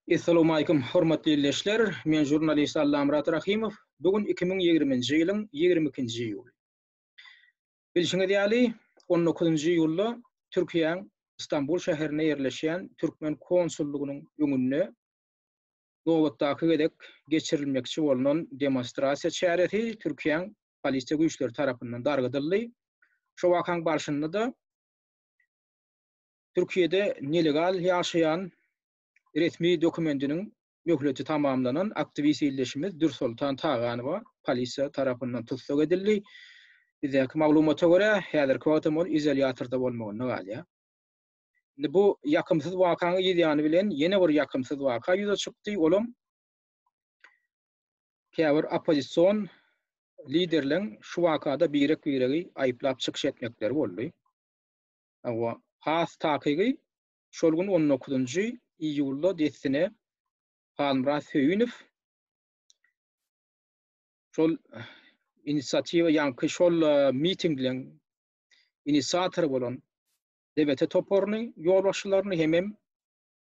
Essalamu aýkum, hormatly ildeşler! Men žurnalist Allamyrat Rahymow. Bu gün iki müň ýigrimi nji ýylyň ýigrimi ikinji iýuly. Bilşiňiz ýaly, on dokuzynjy iýulda Türkiýäň Stambul şäherinde ýerleşýän türkmen konsullygynyň öňünde nobatdaky gezek geçirilmekçi bolnan demonstrasiýa çäresi Türkiýäň polisiýa güýçleri tarapyndan dargadyldy. Şo wakaň barşynda-da Türkiýede nelegal ýaşaýan resmi dokumentiniň möhleti tamamlanan aktiwist ildeşimiz Dürsoltan Taganowa polisiýa tarapyndan tussag edildi. Bizdäki maglumata görä, häzirki wagt hem ol izolýatorda bolmagynda galýar. Indi bu ýakymsyz wakaň yz ýany bilen ýene bir ýakymsyz waka ýüze çykdy, olam käbir oppozision liderleň şu wakada birek-biregi aýyplap çykyş etmekleri boldy. Hawa, has takygy, şol gün on dokuzynjy iýulda dessine Halmyrat Söýünow şol inisiatiwa ýaňky şol mitingliň inisiatory bolan DBT toparyny ýolbaşçylaryny hemem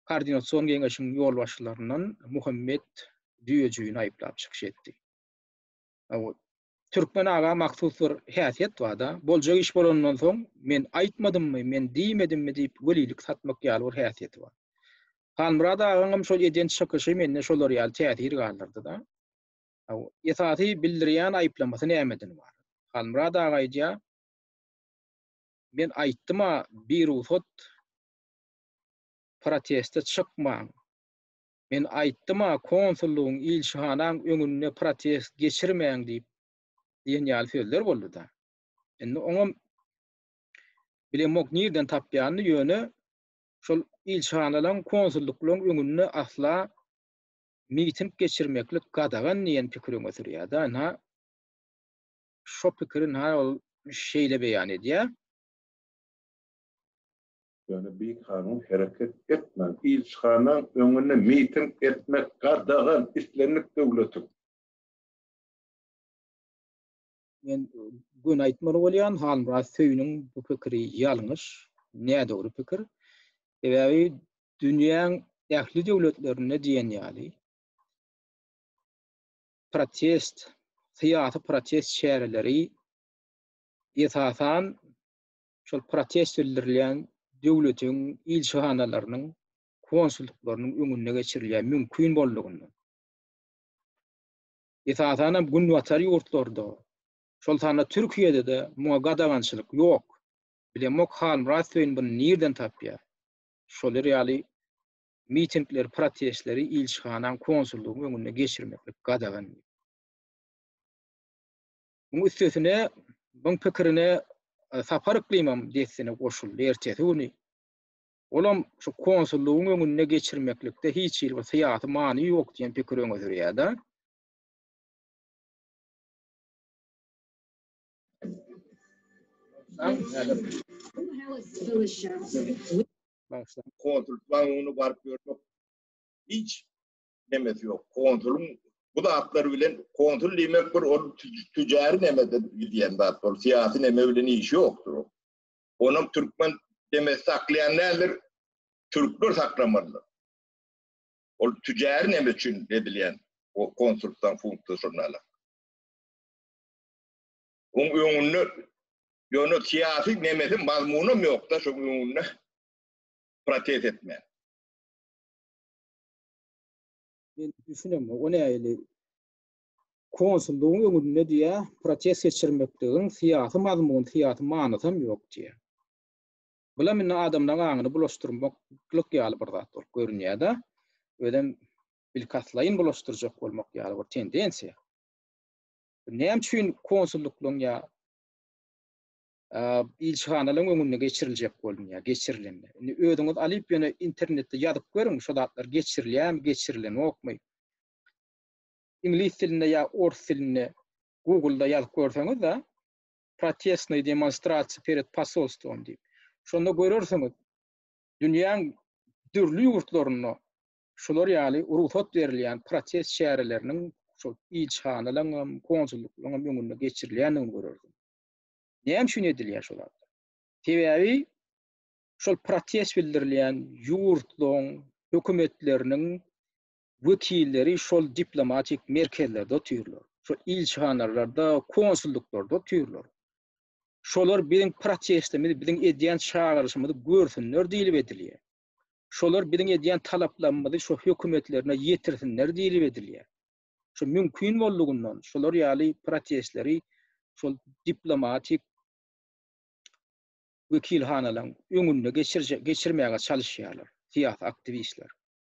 Koordinasion geňeşiň ýolbaşçylaryndan Muhammet Düýejigini aýyplap çykyş etdi. Türkmen aga mahsus bir häsiýet bar-da, boljak iş bolandan soň, men aýtmadymmy, men diýmedimmi diýip welilik satmak ýaly bir häsiýeti bar. Halmyrat agaňam şol eden çykyşy mende şolar ýaly täsir galdyrdy-da. Esasy bildirýän aýyplamasy nämeden ybarat? Halmyrat aga aýdýar, Men aýtdym-a, birugsat proteste çykmaň. Men aýtdym-a, konsullygyň, ilçihanaň öňünde protest geçirmäň diýip diýen ýaly sözler boldy-da. Indi oňam bilemok nirden tapýanyny, ýöne şol ilçihanalaryň, konsullyklaryň öňünde asla miting geçirmeklik gadagan diýen pikir öňe sürýär-de. Ynha, şo pikirin-ha ol şeýle beýan edýär. Ýöne bikanun hereket etmäň, ilçihanaň öňünde miting etmek gadagan, islendik döwletiň. Men göni aýtmaly bolýan, Halmyrat Söýüniň bu pikiri ýalňyş, nädogry pikir. Sebäbi dünýäň ähli döwletlerinde diýen ýaly protest, syýasy protest çäreleri esasan şol protest bildirilýän döwletiň ilçihanalarynyň, konsullyklarynyň öňünde geçirilýär, mümkin boldugyndan. Esasan hem günbatar ýurtlarda, şol sanda Türkiýede-de muňa gadagançylyk ýok. Bilemok Halmyrat Söýün buny nirden tapýar? Şolar ýaly mitingleri, protestleri ilçihanaň, konsullygyň öňünde geçirmeklik gadagan. Muň üstesine, muň pikirine e, Sapar yklymam dessine goşuldy ertesi güni. Olam şu konsullygyň öňünde geçirmeklikde hiç hili bir syýasy many ýok diýen pikiri öňe sürýär-de. Konsullygyň öňüne baryp görmek hiç nemesi ýok. Konsulyň bu zatlar bilen konsul diýmek bir ol tüjäri nemeden gidýän zat, ol syýasy neme bilen işi ýokdur. Onuň türkmen demesi saklaýan nädir? Türkler saklamalydyr. Ol tüjäri neme üçin edilýän o konsuldan funksiýasyny alyp. Oň öňünde ýöne syýasy nemesi mazmunam ýokda şoň öňünde protest etmän. Men düşünem, o näli konsullugyň öňünde diýä, protest geçirmekligiň syýasy mazmun, syýasy manysy hem ýok diýä. Bulam indi adamlaryň aňyny bulaşdyrmaklyk ýaly bir zat bolup görünýär-de, özem bilkastlaýyn bulaşdyrjak bolmak ýaly bir tendensiýa. Näme üçin konsulluklaryň ýa ilçihanalaryň öňünde geçiriljek bolunýar, geçirilen. Indi özüňiz alyp ýöne internetde ýazyp görüň, şu zatlar geçirilýärmi, geçirilenokmy. Iňlis dilinde ýa ors dilinde Google-da ýazyp görseňiz-de, protestnoý demonstrasiýa pered posolstwom diýip. Şonda görersiňiz, dünýäň dürli ýurtlarynda şular ýaly rugsat berilýän protest çäreleriniň şol ilçihanalaryň hem, konsullyklaryň hem öňünde geçirilýändigini görersiňiz. Näme üçin edilýär şol zat? Sebäbi şol protest bildirilýän ýurtlaryň hökümetleriniň wekilleri şol diplomatik merkezlerde otyrlar. Şol ilçihanalarda, konsullyklarda otyrlar. Şolar biziň protestimizi, biziň edýän çagyryşymyzy görsünler diýlip edilýär. Şolar biziň edýän talaplarymyzy şu hökümetlerine ýetirsinler diýlip edilýär. Şu mümkin boldugyndan şular ýaly protestleri şol diplomatik wekilhanalaryň öňünde geçirje geçirmäge çalyşýarlar syýasy aktiwistler.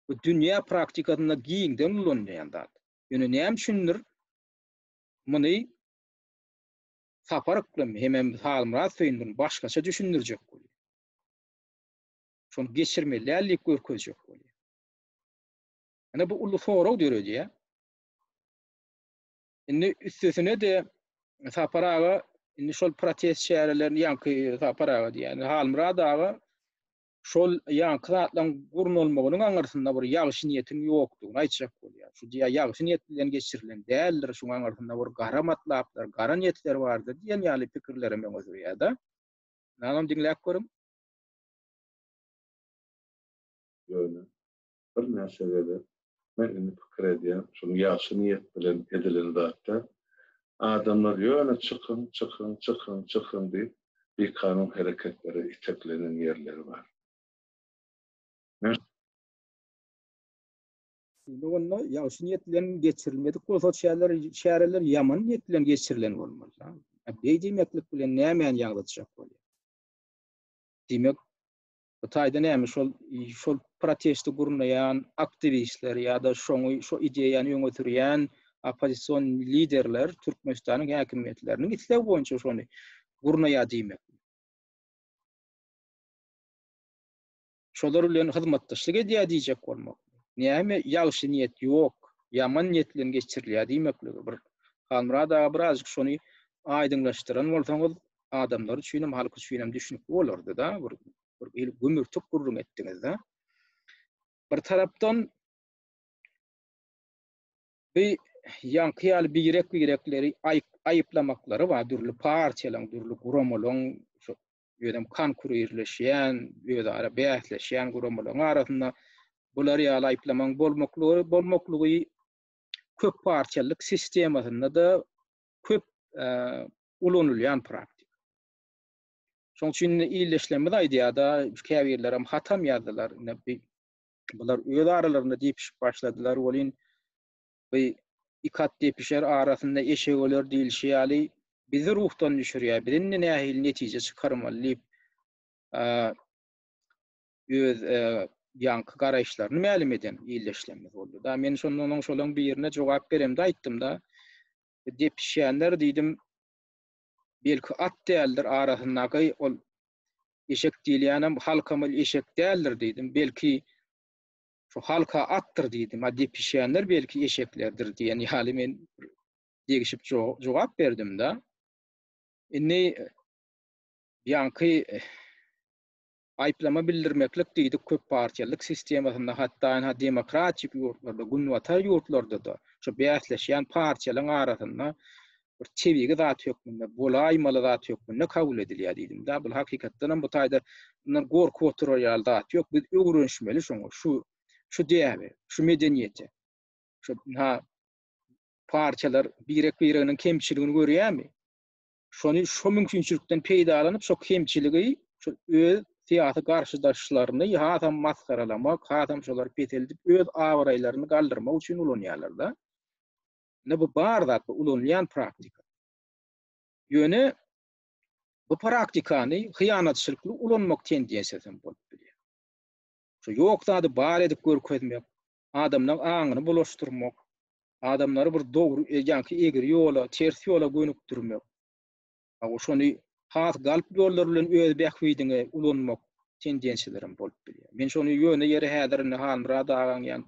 Bu dünýä praktikasynda giňden ulanylýan zat. Ýöne näme üçindir muny Sapar Yklymy hemem Halmyrat Söýündini başgaça düşündirjek bolýar. Şony geçirmeliäl diýip görkezjek bolýar. Ine bu uly sorag döredýär. Indi üstesine-de Sapar aga indi şol protest çärelerini ýaňky Sapar aga diýýän, Halmyrat aga şol ýaňky zatlaryň gurnalmagynyň aňyrsynda bir ýagşy niýetiň ýokdugyny aýtjak bolýar. Şu diýýär, ýagşy niýet bilen geçirilen däldir, şuň aňyrsynda bir gara matlaplar, gara niýetler bardyr diýen ýaly pikirlere meň ösürýär-de. Ynamam diňläp görüň. Ýöne, birnäçe gezek men indi pikir edýän şuny ýagşy niýet bilen edilen zat däl. Adamlar ýöne çykyň, çykyň, çykyň, çykyň diýip bikanun hereketlere iteklenen ýerleri bar. Men. Şeýle bolanda ýagşy niýet bilen geçirilmedik bolsa o çäreler çäreler ýaman niýet bilen geçirilen bolmaly da. Beý diýmeklik bilen nämäni ýaňzytjak bolýar? Diýmek Bu taýda näme şol şol protesti gurnaýan aktiwistler ýa-da şoňy şu ideýany öňe sürýän oppozision liderler Türkmenistanyň häkimiýetleriniň islegi boýunça şony gurnaýar diýmek. Şolar bilen hyzmatdaşlyk edýär diýjek bolmak. Näme ýagşy niýet ýok, ýaman niýet bilen geçirilýär diýmekligi bir. Halmyrat aga birazjyk şony aýdyňlaşdyran bolsaňyz adamlar üçinem, halk üçinem düşnükli bolardy-da, bir il gümürtik gürrüň etdiňiz-de. Bir tarapdan bi ýaňky ýaly birek-birekleri aýyplamaklary bar, dürli partiýalaryň, dürli guramalaryň, şu ýöne konkurirleşýän, özara bäsleşýän guramalaryň arasynda bular ýaly aýyplamaň bolmaklygy, bolmaklygy köp partiýalyk sistemasynda-da köp ulanylýan praktika. Şonuň üçin ildeşlerimiz aýdýar-da, käbirlerem hatam ýazdylar. Ine, bular öz aralarynda depişip başladylar. Welin, bu iki at depişer arasynda eşek öler diýlişi ýaly, bizi ruhdan düşürýär. Biz indi nähili netije çykarmaly diýip, öz ýaňky garaýyşlaryny mälim eden ildeşlerimiz boldy. Da men şonda onuň şolaryň birine jogap beremde aýtdym da depişýänler diýdim. Belki at däldir arasyndaky ol eşek diýilýänem halkamyl eşek däldir diýdim. Belki şu halka atdyr diýdim. A depişýänler belki eşeklerdir diýen ýaly men degişip jogap berdim da. Indi ýaňky Aýyplama bildirmeklik diýdik köp partiýalyk sistemasynda hatdaenha demokratik ýurtlarda günbatar ýurtlardada şu bäsleşýän partiýalaň arasynda bir tebigy zat hökmünde bolaýmaly zat hökmünde kabul edilýär diýdimdä bul hakykatdanam bu taýda bundan gorkup oturar ýaly zat ýok biz öwrenişmeli şoňa şu şu däbe şu medeniýete şu ha partiýalar birek bireginiň kemçiligini görýärmi şony şu mümkinçilikden peýdalanyp, şu kemçiligi, şu öz syýasy garşydaşlaryny hasam masgaralamak, hasam şolary peseldip, öz abraýlaryny galdyrmak üçin ulanýarlar-da. Indi bu bar zat, bu ulanylýan praktika. Ýöne bu praktikany hyýanatçylykly ulanmak tendensiýasy hem bolup bilýär. Şu ýok zady bar edip görkezmek, adamlaň aňyny bulaşdyrmak, adamlary bir dogry e, ýaňky egri ýola, ters ýola gönükdirmek, a, o şony has galp ýollar bilen öz bähbidiňe ulanmak tendensiýalar hem bolup bilýär. Men şony ýöne ýere häzir indi Halmyrat agaň ýa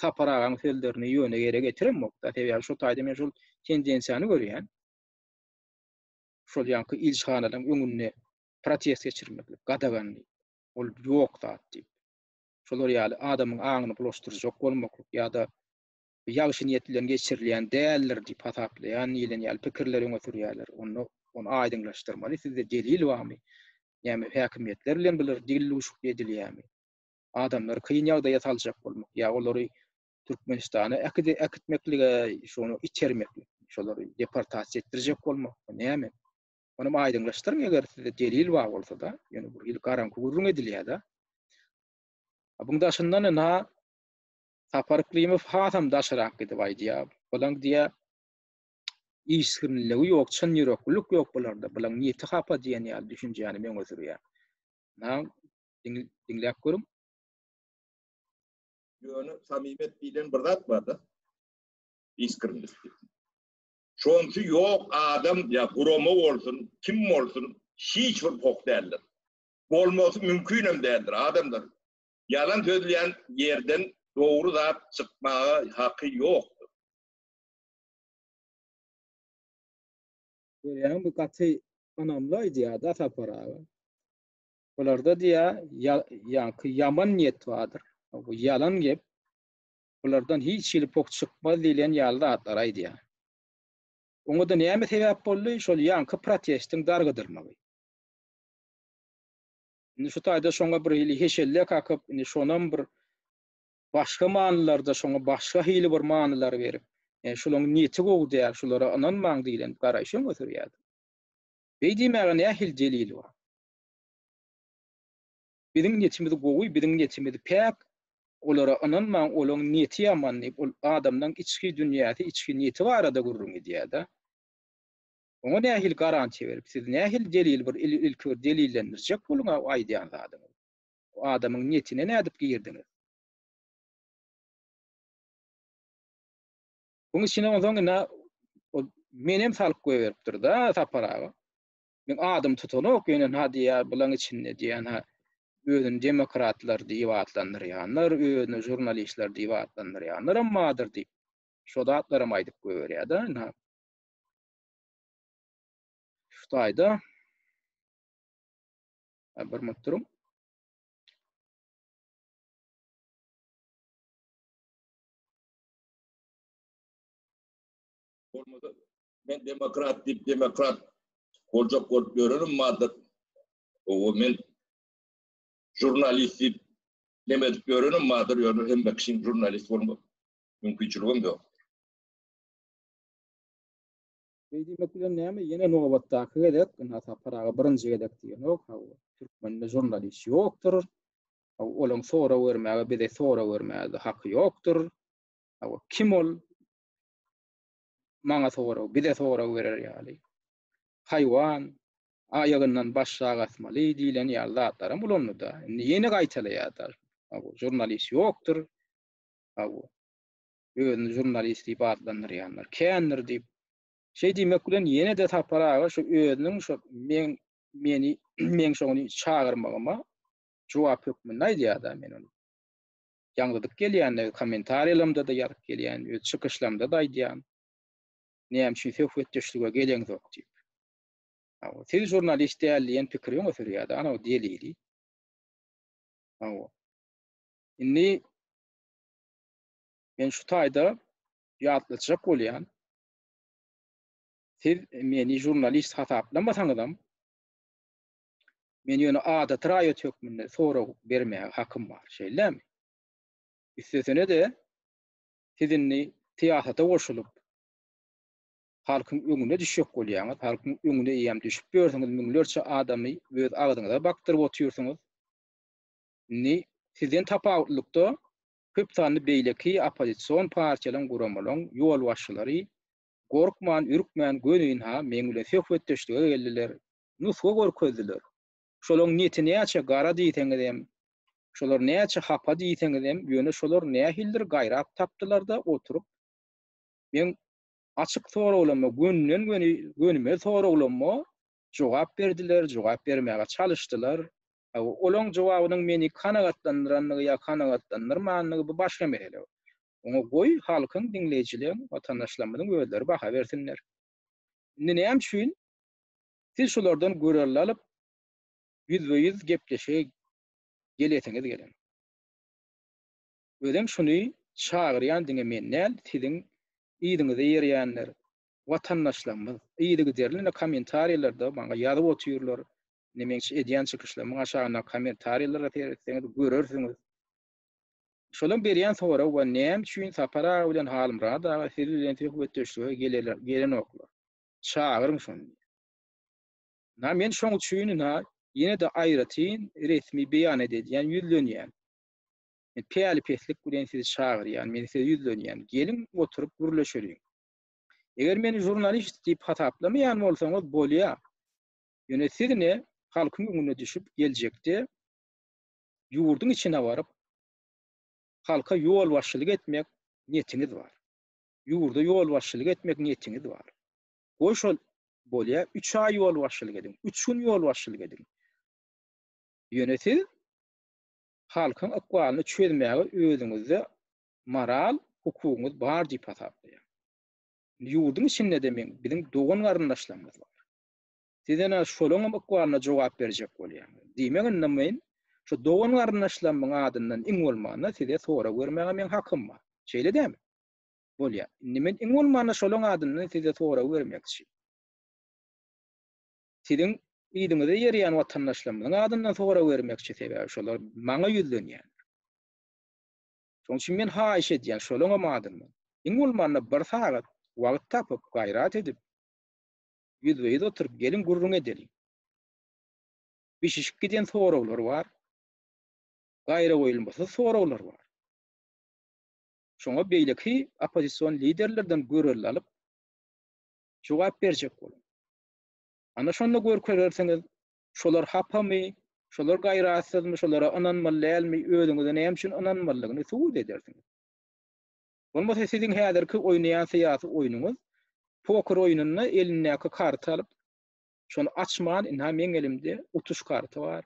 Sapar agaň sözlerini ýöne ýere getiremok-da, sebäbi şo taýda men şol tendensiýany görýän. Şol ýaňky ilçihanalaryň öňünde protest geçirmeklik gadaganly, ol ýok zat diýip. şolar ýaly adamyň aňyny bulaşdyrjak bolmaklyk ýa-da bu ýagşy niýet bilen geçirilýän däldir diýip hasaplaýan diýlen ýaly pikirleri öňe sürýärler. Onda ony aýdyňlaşdyrmaly, sizde delil barmy? Näme häkimiýetler bilen bular dilduşukly edilýärmi? Adamlary kyn ýagdaýa saljak bolmak ýa olary Türkmenistana äkitmeklige şony itermeklik, şolary deportasiýa etdirjek bolmak, bu näme? Ony aýdyňlaşdyryň eger sizde delil bar bolsada, ýöne bu hili garaňky gürrüň edilýärda. Buň daşyndan ina Sapar Klimow hasam daşyrak gidip aýdýar. Bulaň diýä işsizligi ýok, çyn ýüreklilik ýok bularda. Bulaň niýeti hapa diýen ýaly düşünjäni meňe sürýär. Na diňläp görüň. Ýöne samimiyet diýlen bir zat barda. Işgirlik. Şonsy ýok adam ýa gurama bolsun, kim bolsun hiç bir pok däldir. Bolmasy mümkinem däldir adamlar. Ýalan sözleýän ýerden dogry zat çykmaga haky ýokdur. Görýäňmi bu gaty ynamly aýdýada Sapar aga. Bularda diýä ýa ýaňky ýaman niýet bardyr. Bu ýalan gep. bulardan hiç hili pok çykmaz diýlen ýaly zatlary aýdýar. Oňa-da näme sebäp boldy, şol ýaňky protestiň dargadylmagy. Indi şu taýda şoňa bir hili heşelle kakyp, indi şonam bir başga manylarda, şoňa başga hili bir manylar berip, e, şulaň niýeti gowy däl, şulara ynanmaň diýlen garaýyş öňe sürýärdi. Beý diýmäge nähili delil bar? Biziň niýetimiz gowy, biziň niýetimiz päk, olara ynanmaň, olaň niýeti ýaman diýip, ol adamlaň içki dünýäsi, içki niýeti barada gürrüň edýär-de. Oňa nähili garantiýa berip, siz nähili delil bir ilki bir delillendirjek boluň-a o aýdýan zadyňyzy. O adamyň niýetine nädip girdiňiz? Buň içine onsoň indi ol menem salyp goýberipdir-de Sapar aga. Men adym tutanok ýöne na diýýär bulaň içinde diýýän ha özüni demokratlar diýip atlandyrýanlar, özüni žurnalistler diýip atlandyrýanlaram bardyr diýip. Şo zatlaram aýdyp goýberýär-de. Na. Şutaýda. Bir minut duruň. Olmadı. Men demokrat diýip demokrat boljak bolup ýörenim bardyr. O men jurnalist diýip neme edip ýörenim bardyr, ýöne hem kişiň jurnalist bolmak mümkinçiligim ýok. Beýdilmek bilen näme? Ýene nobatdaky gezek, indi Saparaga birinji gezek diýenok, ha türkmende jurnalist ýokdur. Olaň sorag bermäge, bize sorag bermäge haky ýokdur. Kim ol? maňa sorag, bize sorag berer ýaly, haýwan, aýagyndan baş sag asmaly diýlen ýaly zatlaram ulandy-da. Indi ýene gaýtalaýar-da. Hawa, žurnalist ýokdur. Hawa, özüni žurnalist diýip atlandyrýanlar kändir diýip. Şeý diýmek bilen ýene-de Sapar aga şu özüniň şu meň meni meň şony çagyrmagyma jogap hökmünde aýdýar-da men ony. ýaňzydyp gelýän, kommentariýalarymda-da ýazyp gelýän, öz çykyşlarymda-da aýdýan. Näme üçin söhbetdeşlige geleňzok diýip. Hawa, siz žurnalist däl diýen pikiri öňe sürýär-de, ana bu delili. Hawa. Indi men şu taýda ýatlatjak bolýan. Siz meni žurnalist hasaplamasaňyzam, Men ýöne adaty raýat hökmünde sorag bermäge hakym bar, şeýlemi? Üstesine-de, siz indi syýasata goşulyp, halkyň öňüne düşjek bolýaňyz, halkyň öňüne eýýäm düşüp ýörsüňiz, müňlerçe adamy öz agzyňyza bakdyryp otyrsyňyz. Indi sizden tapawutlylykda köp sanly beýleki oppozision partiýalaryň, guramalaryň ýolbaşçylary gorkman, ürkmän göni ynha meň bilen söhbetdeşlige geldiler, nusga görkezdiler. Şolaryň neti näçe gara diýseňizem, şolar näçe hapa diýseňizem, ýöne şolar nähilidir gaýrat tapdylar-da oturyp, meň açyk soraglaryma, gönden-göni gönümel soraglaryma jogap berdiler, jogap bermäge çalyşdylar. Olaň jogabynyň meni kanagatlandyrandygy ýa kanagatlandyrmandygy bu başga mesele. Oňa goý, halkyň, diňleýjileriň, watandaşlarymyzyň özleri baha bersinler. Indi näme üçin Siz şulardan gürrüň alyp, ýüzbe-ýüz gepleşige gelesiňiz gelen. Özem şuny çagyrýan diňe men däl, siziň yzyňyza ýerýänler, watandaşlarymyz, yzygiderli kommentariýalarda maňa ýazyp otyrlar, indi meň edýän çykyşlarymyň aşagyndaky kommentariýalara seretseňiz görersiňiz. Şolaryň berýän soragy bar, näme üçin Sapar aga bilen Halmyrat aga siz bilen söhbetdeşlige gelenoklar? çagyryň şony diýip. Ynha, men şoň üçin ynha, ýene-de aýratyn resmi beýanat edýän, ýüzlenýän. Men päli-peslik bilen sizi çagyrýan, men size ýüzlenýän, geliň, oturyp gürleşeliň. Eger meni žurnalist diýip hasaplamaýan bolsaňyz, bolýar. Ýöne siz ine, halkyň öňüne düşüp, geljekde ýurduň içine baryp, halka ýolbaşçylyk etmek niýetiňiz bar. ýurda ýolbaşçylyk etmek niýetiňiz bar. Goý şol bolýa, üç aý ýolbaşçylyk ediň, üç gün ýolbaşçylyk ediň. Ýöne siz halkyň ykbalyny çözmäge özüňizde moral hukugyňyz bar diýip hasaplaýan. Indi ýurduň içinde-de meň biziň dogan-garyndaşlarymyz bar. Siz ene şolaňam ykbalyna jogap berjek bolýaň. Diýmek indi men şu dogan-garyndaşlarymyň adyndan iň bolmanda size sorag bermäge meň hakym bar. Şeýle dämi? bolýa. Indi men iň bolmanda şolaň adyndan size sorag bermekçi. Siziň yzyňyza ýerýän watandaşlarymyzyň adyndan sorag bermekçi sebäbi şolar maňa ýüzlenýänler. Şoň üçin men haýyş edýän şolaňam adyndan. Iň bolmanda bir sagat wagt tapyp gaýrat edip ýüzbe-ýüz oturyp geliň gürrüň edeliň. Bişişip giden soraglar bar. Gaýragoýulmasyz soraglar bar. Şoňa beýleki oppozision liderlerden görelde alyp, jogap berjek boluň. Ana şonda görkezersiňiz, şolar hapamy, şolar gaýratsyzmy, şolara ynanmaly dälmi, özüňize näme üçin ynanmalydygyny subut edersiňiz. Bolmasa siziň häzirki oýnaýan syýasy oýnuňyz poker oýnunda elindäki karty alyp, şony açman, ynha meň elimde utuş karty bar,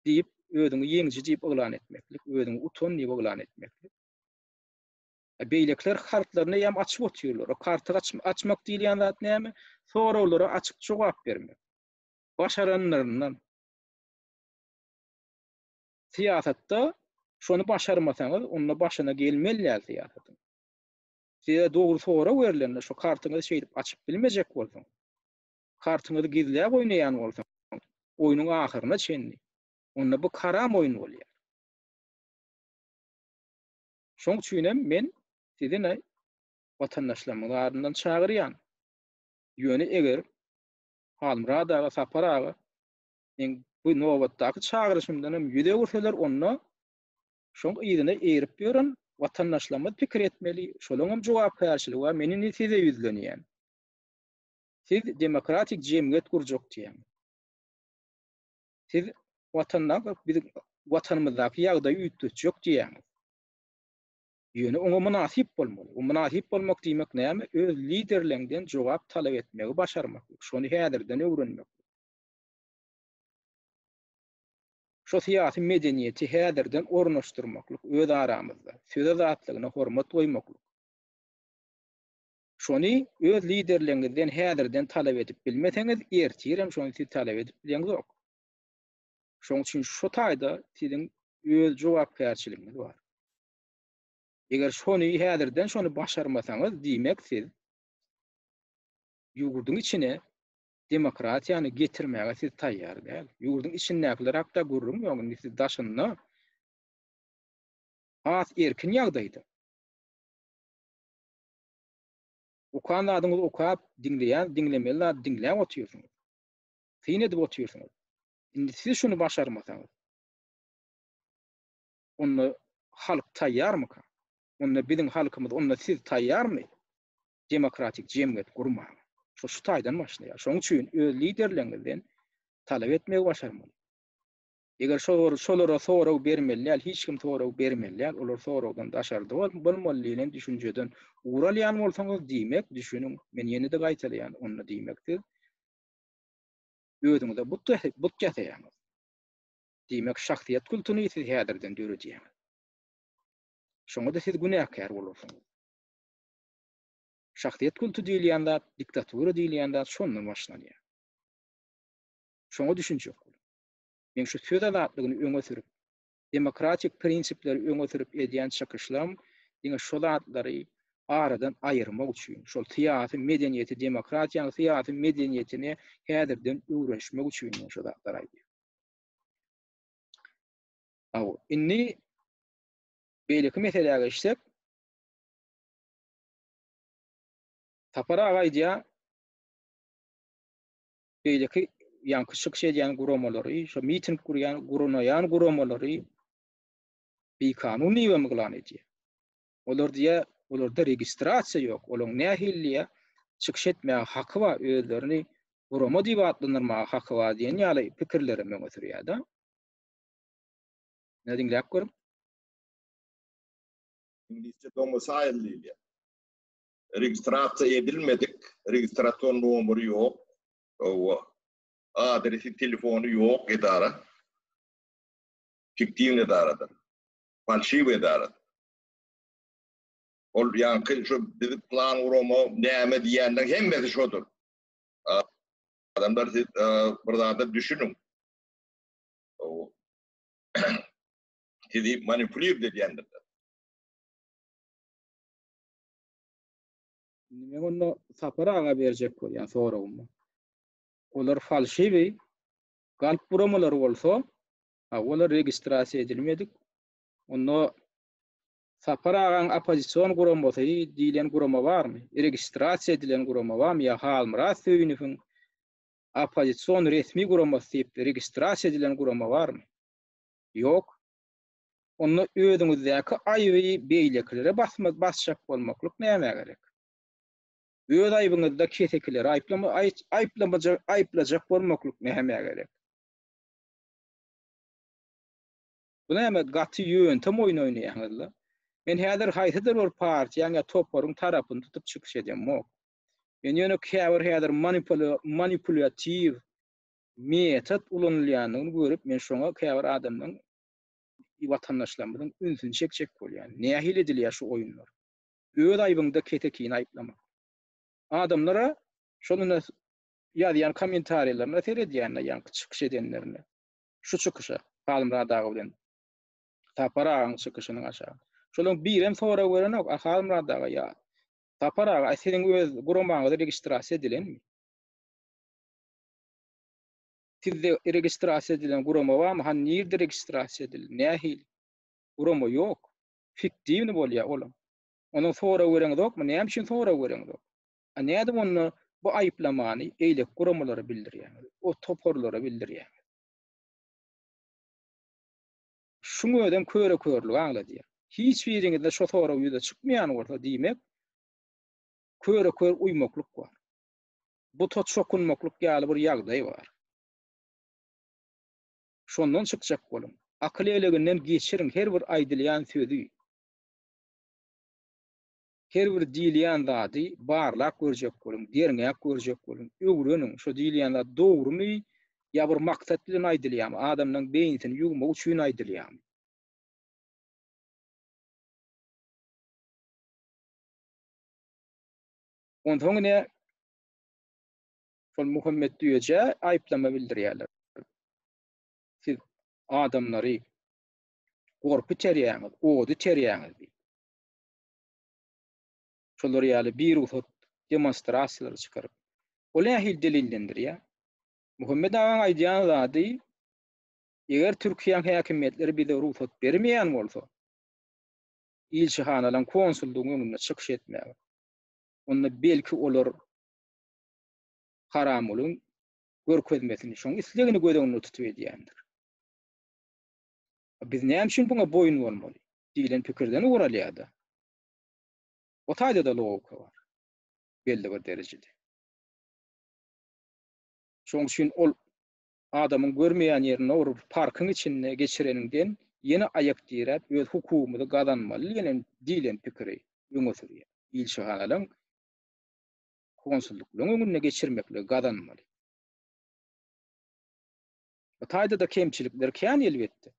diýip, özüňi ýeňiji diýip yglan etmeklik, özüňi utan diýip yglan etmeklik. E, beýlekiler kartlaryny eýýäm açyp otyrlar. O karty açmak diýilýän zat näme? Soraglara açyk jogap bermek. Başaranlaryndan. Syýasatda şony başarmasaňyz, onda başyna gelmeli däl syýasatyň. Size dogry sorag berlende, şu kartyňyzy şeýdip açyp bilmejek bolsaň, kartyňyzy gizläp oýnaýan bolsaňyz, oýnuň ahyryna çenli, onda bu haram oýun bolýar. Şoň üçinem men sizi watandaşlarymyň adyndan çagyrýan. Ýöne eger Halmyrat aga, Sapar aga meň bu nobatdaky çagyryşymdan hem ýüz öwürseler, onda şoň yzyna eýrip ýören watandaşlarymyz pikir etmeli, şolaň hem jogapkärçiligi bar. Men indi size ýüzlenýän. Siz demokratik jemgyýet gurjak diýýäň. Siz Watanda biziň Watanymyzdaky ýagdaýy üýtgetjek diýýäň. Ýöne oňa mynasyp bolmaly. O mynasyp bolmak diýmek näme? Öz liderleňden jogap talap etmegi başarmak. Şony häzirden öwrenmek. Şu syýasy medeniýeti häzirden ornaşdyrmaklyk öz aramyzda. Söz azatlygyna hormat goýmaklyk. Şony öz liderligiňizden häzirden talap edip bilmeseňiz, ertirem şony siz talap edip bileňzok. Şoň üçin şu taýda siziň öz jogapkärçiligiňiz bar. Eger şony häzirden şony başarmasaňyz, diýmek siz ýurduň içine demokratiýany getirmäge siz taýýar däl. Ýurduň içindäkiler hakda gürrüň ýok, indi siz daşynda has erkin ýagdaýda. Okan zadyňyzy okap, diňleýän diňlemeli zady diňläp otyrsyňyz. Syn edip otyrsyňyz. Indi siz şuny başarmasaňyz, onda halk taýýarmyka? Onda biziň halkymyz, onda siz taýýarmy demokratik jemgyýet gurmaga? Şo şu taýdan başlaýar. Şonuň üçin öz liderleriňizden talap etmegi başarmaly. Eger şolar şolara sorag bermeli däl, hiç kim sorag bermeli däl, olar soragdan daşarda bol bolmaly diýlen düşünjeden ugur alýan bolsaňyz, diýmek, düşüniň, men ýene-de gaýtalaýan, onda diýmek siz özüňize but but ýasaýaňyz. Diýmek, şahsyýet kultuny siz häzirden döredýäňiz. Şoňa-da siz günäkär bolarsyňyz. Şahsyýet kultu diýilýän zat, diktatura diýilýän zat şondan başlanýar. Şoňa düşünjek boluň. Men şu söz azatlygyny öňe sürüp, demokratik prinsipleri öňe sürüp edýän çykyşlarym diňe şo zatlary aradan aýyrmak üçin, şol syýasy medeniýeti, demokratiýanyň syýasy medeniýetini häzirden öwrenişmek üçin men şo zatlary aýdýan. Hawa, indi beýleki meselä geçsek, Sapar aga aýdýar, beýleki ýaňky çykyş edýän guramalary, şo miting gurýan, gurnaýan guramalary bikanun diýip hem yglan edýär. Olar diýýär, olarda registrasiýa ýok, olaryň nähili çykyş etmäge haky bar, özlerini gurama diýip atlandyrmaga haky bar diýen ýaly pikirler hem öňe sürýär-de. Ine diňläp görüň. Iňlisçe domicile diýilýär. Registrasiýa edilmedik, registrasion nomeri ýok, hawa, adresi, telefony ýok edara, fiktiwnyý edaradyr, falşiw edara. Ol ýaňky şu bizi plan gurama näme diýýänler hemmesi şodur. Adamlar siz bir zada düşüniň. Sizi manipulirt edýändirler. Indi men onda Sapar aga berjek bolýan soragymy. Olar falşiwi galp buramalary bolsa, ha olar registrasiýa edilmedik. Onda Sapar agaň oppozision guramasy diýlen gurama barmy? Registrasiýa edilen gurama barmy? Ýa Halmyrat Söýünowyň oppozision resmi guramasy diýip registrasiýa edilen gurama barmy? Ýok. onda özüňizdäki aýby beýlekilere basma basjak bolmaklyk nämä gerek? Öz aýbyňyzda kesekileri aýplama aýt aýplamaja aýplajak bolmaklyk nämä gerek? Bu näme gaty ýöntem oýun oýnaýaňyz la. Men häzir haýsydyr bir partiýaň ýa toparyň tarapyny tutup çykyş edemok. Men ýöne käbir häzir manipula manipulýatiw metod ulanylýandygyny görüp men şoňa käbir adamlaň watandaşlarymyzyň ünsüni çekjek bolýan, nähili edilýär şu oýunlar? Öz aýbyňda kesekini aýyplamak. Adamlara şonda ýazýan kommentariýalaryna seredýände ýaňky çykyş edenlerine, şu çykyşa, Halmyrat aga bilen Sapar agaň çykyşynyň aşagy. Şolaň birem sorag berenok, a Halmyrat aga ýa Sapar aga, a siziň öz guramaňyz registrasiýa edilenmi? Sizde registrasiýa edilen gurama barmy? Hany nirde registrasiýa edildi? Nähili? Gurama ýok. Fiktiwny bolýar olam. Ondan sorag bereňizokmy? Näme üçin sorag bereňizok? A nädip onda bu aýyplamany beýleki guramalara bildirýäňiz? O toparlara bildirýäňiz? Şuň özem köre-körligi aňladýar. Hiç biriňizde şo sorag ýüze çykmaýan bolsa, diýmek, köre-kör uýmaklyk bar. buta çokunmaklyk ýaly bir ýagdaý bar. Şondan çykjak boluň. Akyl eleginden geçiriň her bir aýdylýan sözi, her bir diýilýän zady barlap görjek boluň, derňäp görjek boluň, öwreniň, şo diýilýän zat dogrumy ýa bir maksat bilen aýdylýamy, adamlaryň beýnisini ýugmak üçin aýdylýamy? Onsoň ine şol Muhammet Düýejä aýyplama bildirýärler. Siz adamlary gorp içerýäňiz, ot içerýäňiz diýip. Şolar ýaly birugsat demonstrasiýalary çykaryp. Ol nähili delillendirýär? Muhammet agaň aýdýan zady eger Türkiýäň häkimiýetleri bize rugsat bermeýän bolsa, ilçihanalaryň, konsullygyň öňünde çykyş etmäge. onda belki olar Haramgulyň görkezmesini, şoň islegini göz öňünde tutup edýändir. Biz näme üçin buňa boýun bolmaly? diýlen pikirden ugur alýar-da. O taýda-da logika bar. Belli bir derejede. Şoň üçin ol adamyň görmeýän ýerinde bir parkyň içinde geçireniňden ýene aýak diräp öz hukugymyzy gazanmaly diýen diýlen pikiri öňe sürýär. Ilçihanalaryň konsullyklaryň öňünde geçirmekligi gazanmaly. Bu taýda-da kemçilikler kän elbetde.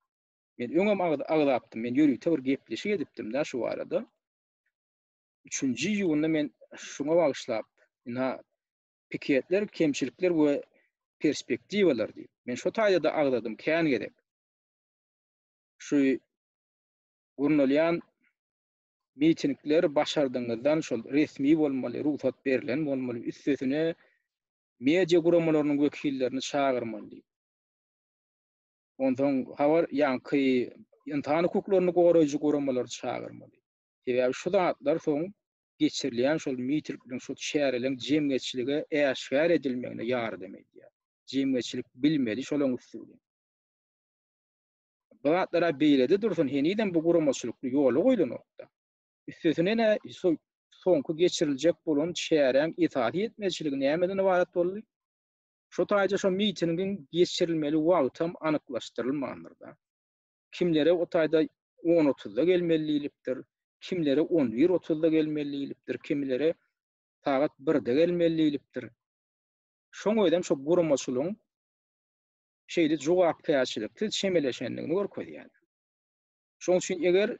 Men öňem agzapdym, men ýörite bir gepleşik edipdim-de şu barada. Üçünji iýunda men şuňa bagyşlap ynha piketler, kemçilikler we perspektiwalar diýip. Men şo taýda-da agzadym kän gezek. Şu gurnalýan mitingler başardygyňyzdan şol resmi bolmaly, rugsat berlen bolmaly, üstesine media guramalarynyň wekillerini çagyrmaly diýip. Onsoň habar ýaňky ynsan hukuklaryny goraýjy guramalary çagyrmaly. Sebäbi şu zatlar soň geçirilýän şol mitirkliň, şo çäreleň jemgyýetçilige äşgär edilmegine ýardam edýär. Jemgyýetçilik bilmeli şolaň üsti bilen. Bu zatlar-a beýlede dursun, henizem bu guramaçylykly ýola goýlanok-da. Üstesine-de, şo soňky geçiriljek bolan çäräň esasy ýetmezçiligi nämeden ybarat boldy? Şo taýda şo mitingiň geçirilmeli wagtam anyklaşdyrylmandyr-da. Kimlere o taýda on otuzda gelmeli diýlipdir, kimlere on bir otuzda gelmeli diýlipdir, kimilere sagat birde gelmeli diýlipdir. Şoň özem şo guramaçylygyň şeýle jogapkärçiliksiz çemeleşendigini görkezýär. Şoň üçin eger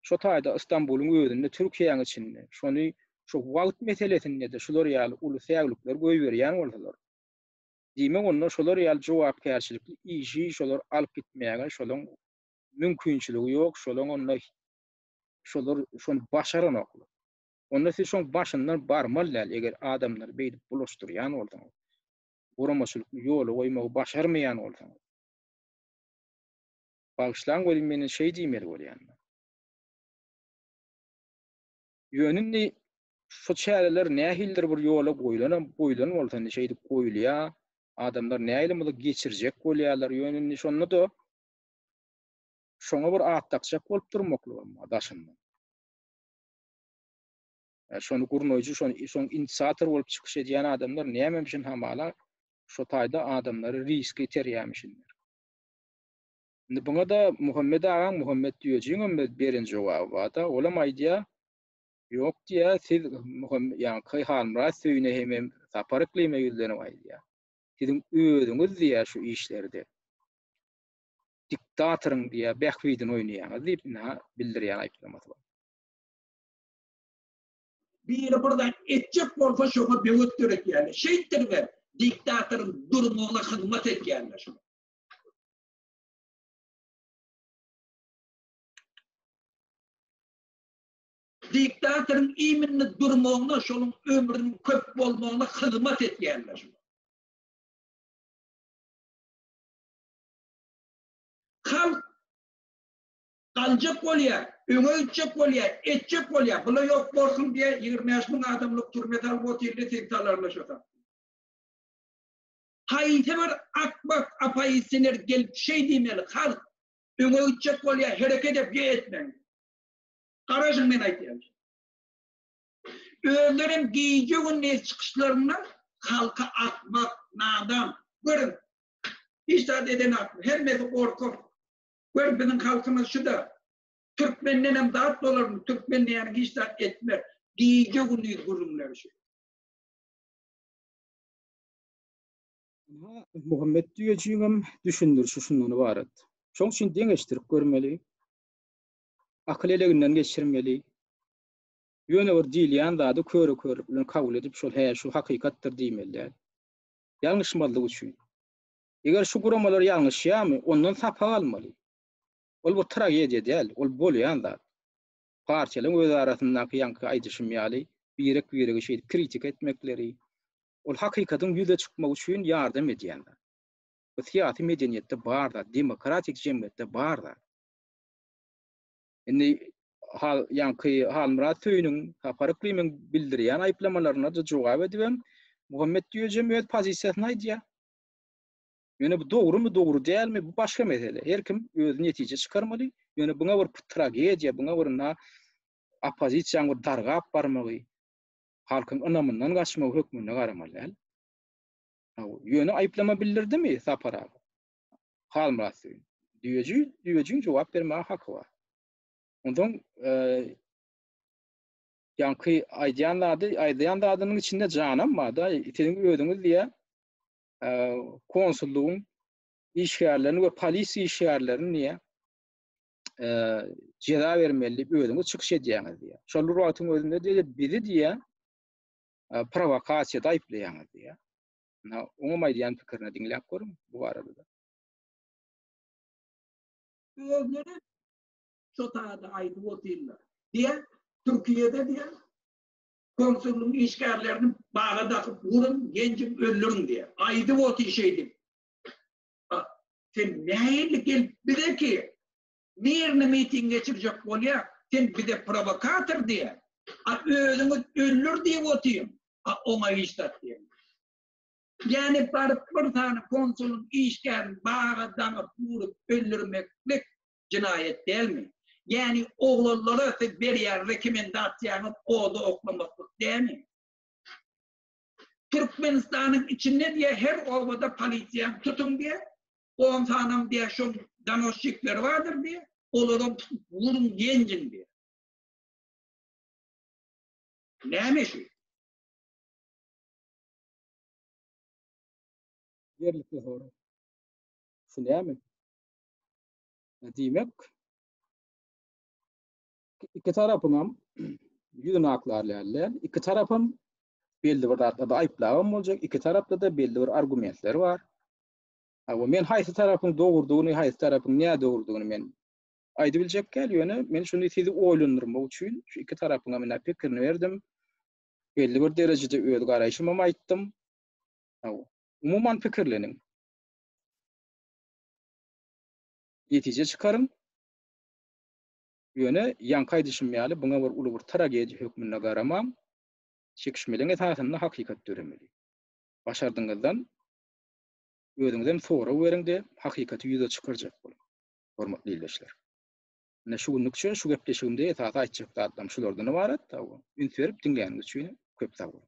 şo taýda Ystambulyň özünde, Türkiýäň içinde, şony şu wagt meselesinde-de şular ýaly uly säwlikler goýberýän bolsalar, Diýmek onda şolar ýaly jogapkärçilikli işi şolar alyp gitmäge şolaň mümkinçiligi ýok, şolaň onda şolar şony başaranoklar. Onda siz şoň başyndan barmaly däl, eger adamlary beýdip bulaşdyrýan bolsaňyz, guramaçylykly ýola goýmagy başarmaýan bolsaňyz. Bagyşlaň welin men indi şeý diýmeli bolýan. Ýöne indi şu çäreler nähilidir bir ýola goýlanam, goýlan bolsa indi şeýdip goýulýar. Adamlar nähili muny geçirjek bolýarlar. Ýöne indi şonda-da şoňa bir at dakjak bolup durmaklygam bar daşyndan. E, şony gurnaýjy, şony şoň inisiator bolup çykyş edýän adamlar nämemişin hamala şo taýda adamlary riske iterýärmişinler. Indi buňa-da Muhammet agaň Muhammet düýejigiňem beren jogaby bar-da. Olam aýdýar, Ýok diýýär, siz ýaňky Halmyrat Söýüne hemem Sapar Yklime ýüzlenip aýdýar. Siziň özüňiz diýýär şu işlerde diktatoryň diýýär bähbidini oýnaýaňyz diýip indi-ha bildirýän aýyplamasy bar. Biri bir zat etjek bolsa şoňa böwet döretýärler. Şeýtdiribem diktatoryň durmugyna hyzmat edýärler. Diktatoryň iýminli durmagyna, şonuň ömrüniň köp bolmagyna hyzmat edýärler. Halk galjak bolýar, öňe gitjek bolýar, etjek bolýar. Bular ýok bolsun diýe ýigrimi bäş müň adamlyk türme salyp otyrdy, sen salarlaşasaň. Haýsy bir akmak apoisiner gelip şeý diýmeli, halk, öňe gitjek bolýa, hereket et, ýa etmeň. Garaşyň men aýdýan kimi. Özlerem gije gündiz çykyşlarynda halka akmak, nadan, görüň, hiç zat edenakmy, hemmesi gorkak. Gör biziň halkymyz şuda, türkmendenem zat bolarmy, türkmen diýýäniň hiç zat etmez. Gije gündiz gürrüňleri şu. Muhammet Düýejiňem düşündirişi şundan ybarat. Şoň üçin deňeşdirip görmeli, akyl eleginden geçirmeli, ýöne bir diýilýän zady köre-körlük bilen kabul edip, şol hä, şu hakykatdyr diýmeli däl. Ýalňyşmazlyk üçin. Eger şu guramalar ýalňyşýarmy, ondan sapak almaly. Ol bir tragediýa däl, ol bolýan zat. Partiýalaryň özarasyndaky ýaňky aýdyşym ýaly, birek-biregi şeýdip kritika etmekleri, Ol hakykatyň ýüze çykmagy üçin ýardam edýän zat. Bu syýasy medeniýetde bar zat, demokratik jemgyýetde bar zat. Indi Hal ýaňky Halmyrat Söýüniň, Sapar Yklymyň bildirýän aýyplamalaryna-da jogap edibem, Muhammet Düýejem öz pozisiýasyny aýdýar. Ýöne bu dogrumy, dogry dälmi, bu başga mesele. Her kim özi netije çykarmaly. Ýöne buňa bir tragediýa, buňa bir na oppozisiýaň bir dargap barmagy, halkyň ynamyndan gaçmagy hökmünde garamaly däl. Ýöne aýyplama bildirdimi Sapar aga? Halmyrat Söýün. Düýeji, düýejiň jogap bermäge haky bar. Onsoň ýaňky aýdýan zady, aýdýan zadynyň içinde janam bar-da, siziň özüňiz diýýä, konsullygyň işgärlerini we polisiýa işgärlerini diýýä, ceza bermeli diýip özüňiz çykyş edýäňiz diýýär. Şol bir wagtyň özünde diýýär, bizi diýýär, prowokasiýada aýyplaýaňyz diýýär. Ina, oňam aýdýan pikirini diňläp görüň bu barada. Özleri şo taýda aýdyp otyrlar. Diýär, Türkiýede diýär, konsullygyň işgärlerini baga dakyp uruň, genjip öldüriň diýär. Aýdyp otyr şeýdip. Bak, sen nähili gelip bize ki, mirni miting geçirjek bolýa, sen bize provokator diýä, a özüňiz öller diýip otyň, a oňa hiç zat diýen ýok. Ýani baryp bir sany konsulyň işgärini baga daňyp urup öldürmeklik jinaýat dälmi? Ýani oglanlara siz berýän rekomendasiýaňyz oda oklamaklyk dälmi? Türkmenistanyň içinde diýe her obada polisiýany tutuň diýe, on sanam diýe şol donosçikleri bardyr diýe, olaram tutup wurun ýenjiň diýe. Näme şu? Ýerlikli soraň. Şu näme? Diýmek, iki tarapyň hem ýüzüni aklarlarlar. İki tarap hem belli bir zatlarda aýyplabam boljak. İki tarapda da belli bir argumentler bar. Ama men haýsy tarapyň dogrudygyny, haýsy tarapyň nädogrudygyny men aýdyp biljek däl, ýöne men şuny sizi oýlandyrmak üçin şu iki tarapyň hem pikirini berdim. Belli bir derejede öz garaýşymy hem aýtdym. Umuman pikirleniň. Netije çykaryň. Ýöne, ýaňky aýdyşym ýaly, buňa bir uly bir tragediýa hökmünde garamaň. Çekişmeleň esasynda hakykat döremeli. Başardygyňyzdan özüňizem sorag beriň-de, hakykaty ýüze çykarjak boluň, hormatly ildeşler. Ine, şu günlük üçin şu gepleşigimde esasy aýtjak zatlarym şulardan ybarat. Üns berip diňläniňiz üçin köp sag boluň.